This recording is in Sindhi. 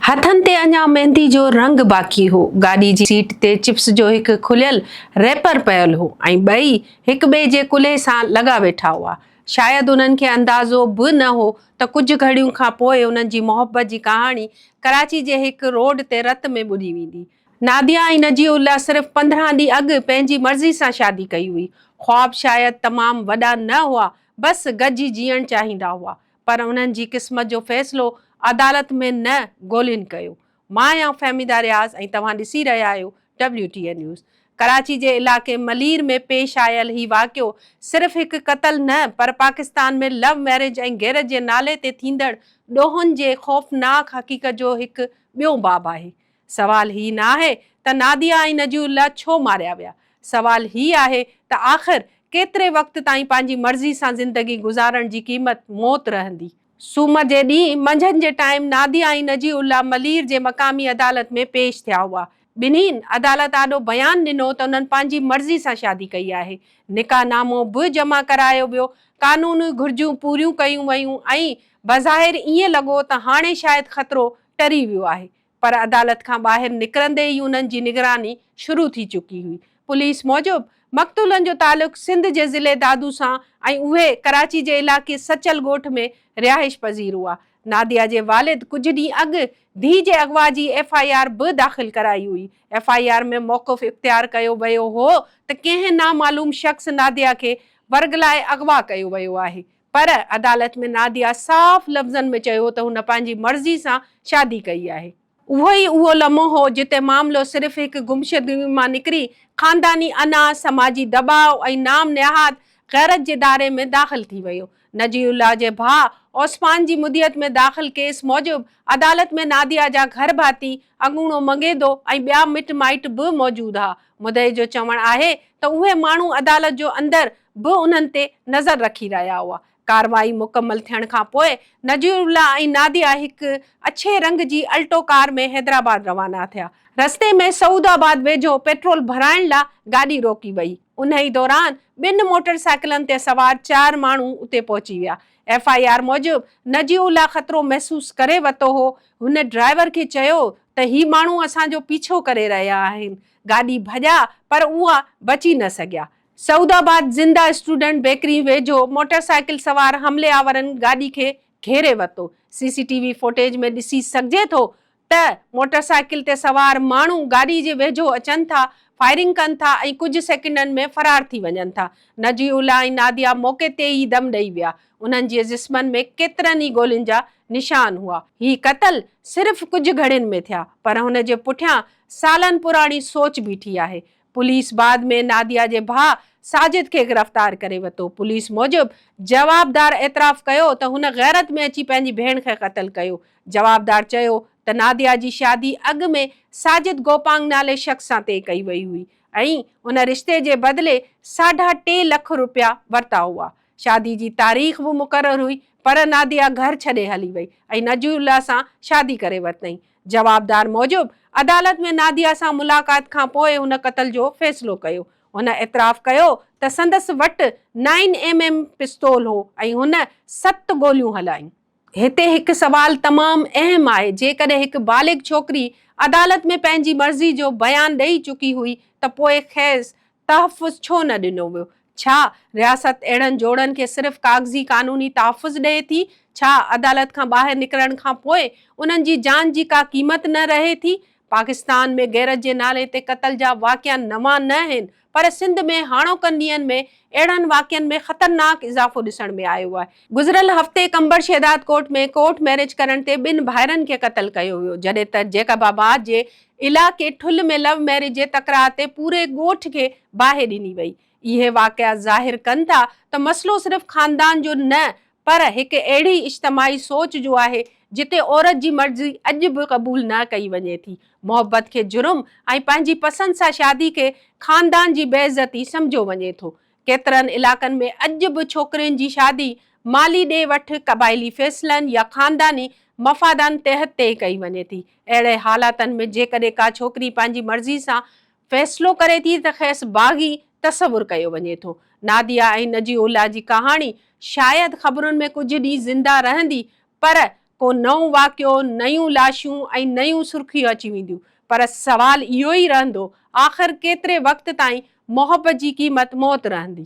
هٿن تي اڃا ميندي جو رنگ باقي هو. گاڏي جي سيٽ تي چپس جو هڪ کليل ريپر پيل هو ۽ ٻئي هڪ ٻئي جي ڪلهي سان لڳا ويٺا هئا. شايد انهن کي اندازو به نه هو ته ڪجهه گهڙيون کان پوء انهن جي محبت جي ڪهاڻي ڪراچي جي هڪ روڊ تي رت ۾ ٻڏي ويندي. ناديه ۽ نجيع الله صرف پندرهن ڏينهن اڳ پنهنجي مرضي سان شادي ڪئي هئي. خواب شايد تمام وڏا نه هئا، بس گڏجي جيئڻ چاهيندا هئا. پر انهن جي قسمت جو فيصلو عدالت ۾ نه گولين ڪيو. مان آهيان فهميده رياض ۽ توهان ڏسي رهيا آهيو W T A news. Karachi جي علائقي ملير ۾ پيش آيل هي واقعو صرف هڪ قتل نه پر پاڪستان ۾ لو ميرج ۽ غيرت جي نالي تي ٿيندڙ ڏوهن جي خوفناڪ حقيقت جو هڪ ٻيو باب آهي. سوال هي نه آهي ته ناديه ۽ نجي الله ڇو ماريا ويا. سوال هي آهي ته آخر ڪيتري وقت تائين پنهنجي مرضي سان زندگي گذارڻ جي قيمت موت رهندي. سومر جي ڏينهن منجهند جي ٽائيم ناديه ۽ نجي الله ملير جي مقامي عدالت ۾ پيش ٿيا هئا. ٻنهين عدالت آڏو بيان ڏنو ته انهن پنهنجي مرضي سان شادي ڪئي آهي. نڪاح نامو به جمع ڪرايو ويو. قانوني گهرجون پوريون ڪيون ويون ۽ بظاهر ائين لڳو ته هاڻي شايد خطرو ٽري ويو آهي. پر عدالت کان ٻاهر نڪرندي ئي انهن جي نگراني شروع ٿي چڪي هئي. پوليس موجب مقتولن جو تعلق سنڌ جي ضلعي دادو سان ۽ اهي ڪراچي جي علائقي سچل ڳوٺ ۾ رهائش پذير هئا. ناديه جي والد ڪجهه ڏينهن اڳ ڌيء جي اغوا جي ايف آء آر به داخل ڪرائي هئي. ايف آء آر ۾ موقف اختيار ڪيو ويو هو ته ڪنهن نامعلوم شخص ناديه کي ورغلائي اغوا ڪيو ويو آهي. پر عدالت ۾ ناديا صاف لفظن ۾ چيو ته هن پنهنجي مرضي سان شادي ڪئي آهي. اهو ئي اهو لمحو هو جتي معاملو صرف هڪ گمشدگي مان نڪري خانداني انا، سماجي دٻاء ۽ نام نهاد غيرت جي دائري ۾ داخل ٿي ويو. نجي الله جي ڀاء عثمان جي مدعيت ۾ داخل ڪيس موجب عدالت ۾ ناديا جا گهر ڀاتي اڳوڻو مڱيدو ۽ ٻيا مٽ مائٽ به موجود ها. مدعي جو چوڻ آهي ته اهي ماڻهو عدالت جو اندر به انهن تي نظر رکي رهيا هئا. ڪارروائي مڪمل ٿيڻ کان پوء نذيرالله ۽ ناديه هڪ اڇي رنگ جي الٽو ڪار ۾ حيدرآباد روانا ٿيا. رستي ۾ سعود آباد ويجهو پيٽرول ڀرائڻ لا گاڏي روڪي وئي. انهي دوران ٻن موٽر سائيڪلن تي سوار چار ماڻهو اتي پهچي ويا. ايف آء آر موجب نذيرالله خطرو محسوس ڪري ورتو هو هن ڊرائيور کي چيو ته هي ماڻهو اسان جو پيڇو ڪري رهيا آهن. گاڏي ڀڄا پر اها بچي نه سگهيا. سعود آباد زنده اسٽوڊنٽ بيڪري ويجهو موٽر سائيڪل سوار حملي آورن گاڏي کي گهيري ورتو. C C T V footage ۾ ڏسي سگهجي ٿو ته موٽر سائيڪل تي سوار ماڻهو گاڏي جي ويجهو اچن ٿا، فائرنگ ڪن ٿا ۽ ڪجهه سيڪنڊن ۾ فرار ٿي وڃن ٿا. نجي الله ۽ ناديا موقعي تي ئي دم ڏئي ويا. انهن جي جسمن ۾ ڪيترن ئي گولين جا نشان هئا. هي قتل صرف ڪجهه گهڙين ۾ ٿيا پر هن جي پٺيان سالن پراڻي سوچ بيٺي آهي. پوليس بعد ۾ ناديه جي ڀاء ساجد کي گرفتار ڪري وتو. پوليس موجب جوابدار اعتراف ڪيو ته هن غيرت ۾ اچي پنهنجي ڀيڻ کي قتل ڪيو. جوابدار چيو ته ناديه جي شادي اڳ ۾ ساجد گوپانگ نالي شخص سان طئي ڪئي وئي هئي ۽ ان رشتي جي بدلي ساڍا ٽي لک روپيا ورتا هئا. شادي جي تاريخ به مقرر هئي پر ناديه گهر ڇڏي هلي وئي ۽ نجي الله سان شادي ڪري ورتائين. جوابدار موجب عدالت ۾ ناديه سان ملاقات کان پوء هن قتل جو فيصلو ڪيو. هن اعتراف ڪيو ته سندس وٽ نائن ايم ايم پستول هو ۽ هن ست گوليون هلايون. هتي هڪ سوال تمام اهم آهي، جيڪڏهن هڪ بالغ ڇوڪري عدالت ۾ پنهنجي مرضي جو بيان ڏئي چڪي هئي ته پوء کيس تحفظ ڇو نه ڏنو ويو؟ ڇا رياست اهڙن جوڙن کي صرف ڪاغذي قانوني تحفظ ڏئي ٿي؟ ڇا عدالت کان ٻاهر نڪرڻ کان پوء انهن جي جان جي ڪا قيمت نه رهي ٿي؟ پاڪستان ۾ غيرت جي نالي تي قتل جا واقعا نوان نه آهن پر سنڌ ۾ هاڻوڪن ڏينهن ۾ اهڙن واقعن ۾ خطرناڪ اضافو ڏسڻ ۾ آيو آهي. گذريل هفتي قمبر شهدادڪوٽ ۾ ڪورٽ ميرج ڪرڻ تي ٻن ڀائرن کي قتل ڪيو ويو جڏهن ته جيڪب آباد جي علائقي ٺل ۾ لو ميرج جي تڪرار تي پوري ڳوٺ کي باهه ڏني وئي اهي واقعا ظاهر ڪن ٿا ته مسئلو صرف خاندان جو نه پر هڪ اهڙي اجتماعي سوچ جو آهي جتي عورت جي مرضي اڄ به قبول نه ڪئي وڃي ٿي محبت کي جرم ۽ پنهنجي پسند سان شادي کي خاندان جي بي عزتي سمجهيو وڃي ٿو ڪيترن علائقن ۾ اڄ به ڇوڪرين جي شادي مالي ڏي وٺ، قبائلي فيصلن يا خانداني مفادن تحت طئي ڪئي وڃي ٿي. اهڙي حالاتن ۾ جيڪڏهن ڪا ڇوڪري پنهنجي مرضي سان فيصلو ڪري ٿي ته کيس باغي تصور ڪيو وڃي ٿو. ناديه ۽ نجي الله جي ڪهاڻي شايد خبرن ۾ ڪجهه ڏينهن زنده رهندي پر ڪو نئون واقعو، نيون لاشون ۽ نيون سرخيون اچي وينديون پر سوال اهو ئي رهندو آخر ڪيتري وقت تائين محبت جي قيمت موت رهندي؟